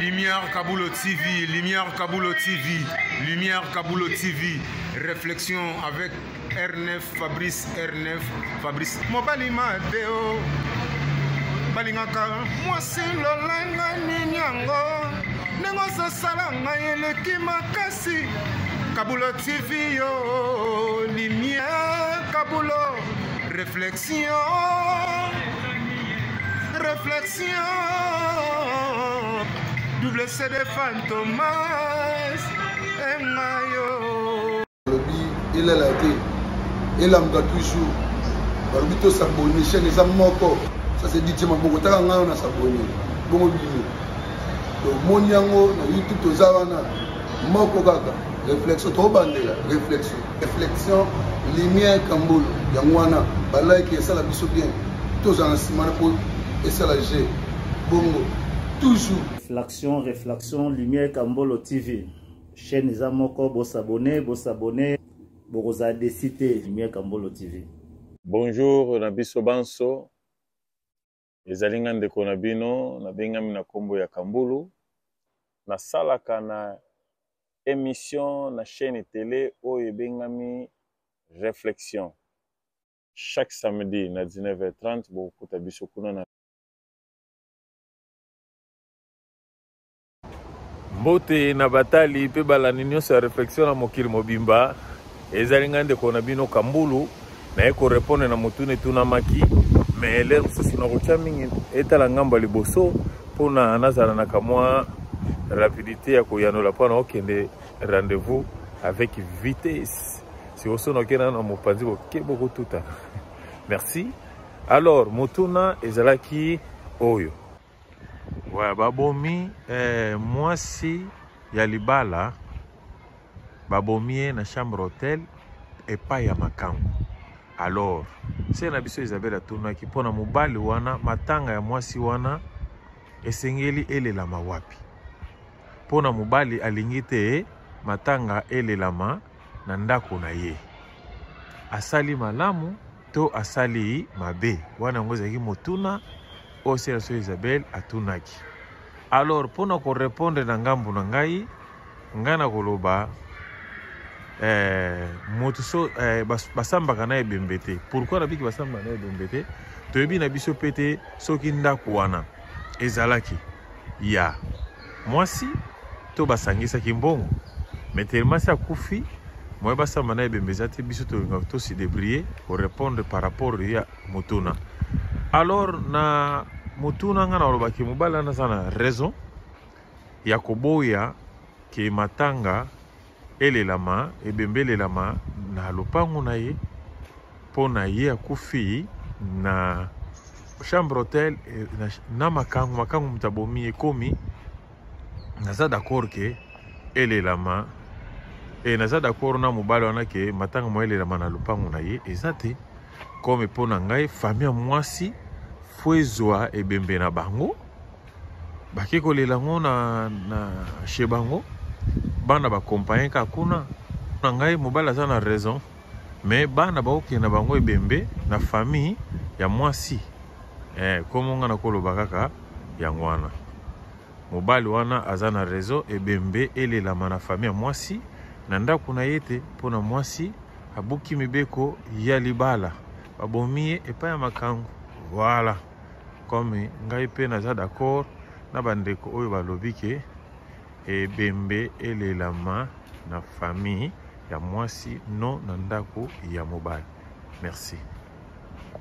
Lumière Kabulo TV, Lumière Kabulo TV, Lumière Kabulo TV, réflexion avec R9, Fabrice R9, Fabrice. Mobali Mateo, balingaka mwasi lolanga nini yango ndenge ozosala ngai eleki makasi Kabulo TV yo, Lumière Kabulo, réflexion. Réflexion, double CD Fantomas, et Mayo. Il est là, il est là, toujours. balobi tosabone chaine eza moko ça c'est dit tima boko taka ngai na sabone bongo bino tomoni yango na youtube toza wana moko kaka réflexion tobandela réflexion reflexion lumière kambolo yango wana balike esala biso bien tozala na nsima na po esala je bongo toujours reflexion reflexion lumière kambolo tv chaîne eza moko bosabone bosabone bokozala desi te lumière kambolo tv bonjour na biso banso Ezali nga ndeko na bino nabengami na nkombo ya Kambulu, nasalaka na emission na chaîne tele oyo ebengami Reflexion. Chaque samedi na 19h30 bokokuta biso kuna na mbote na batali mpe balandi nyonso ya reflexion na mokili mobimba ezali ngai ndeko na bino kambulu naye korepondre na motuna etunamaki me lere mosusu nakotya mingi etala ngambo ya liboso mpona nazala na kamwa rapidité ya koyanola mpo na okende rendez-vous avec vitesse si osono okenda na mopanzi boke bokotutana merci alors motuna ezalaki oyo Ouais, babomi eh, mwasi ya libala babomi ye na chambre hotel epai ya makango alors se na biso isabele atunaki mpo na mobali wana matanga ya mwasi wana esengeli elelama wapi mpo na mobali alingi te matanga elelama na ndako na ye asali malamu to asali mabe wana yango ezalaki motuna oyo sela so isabel atunaki alors mpo na korepondre na ngambo na ngai ngai na koloba eh, moto so eh, bas, basambaka na ebembe te pourkui nabiki basambaka na ebembe te toyebi na biso mpe te soki ndako wana ezalaki ya yeah. mwasi to basangisaki mbongo mais telemasi akufi moye basamba na ebembe eza te biso tolingaka tosi debrie korepondre par rapport ya motuna alors na motuna ngai nalobaki mobali wana aza na raison ya koboya ke matanga Elelama, ebembelelama na lopango na ye mpo na ye akufi na chambre hotel eh, na, na makangu makangu moto abomi ekomi naza d'accord ke elelama e naza d'accord na mobali wana ke matanga mwa elelama na lopango na ye eza te comme mpo na ngai famille ya mwasi fo ezwa ebembe na bango bake kolela yango na, na chez bango bana bakompagne kaka kuna na ngai mobali aza na raison me bana bakokende na bango ebembe na famille ya mwasi eh, komo ngai nakoloba kaka yango wana mobali wana aza na rezo ebembe elelama na famille ya mwasi na ndako na ye te mpo na mwasi abuki mibeko ya libala babomi ye epai ya makango voilà Comme ngai pe naza d'accord na bandeko oyo balobi ke ebembe elelama na famille ya mwasi non na ndako ya mobali. Merci.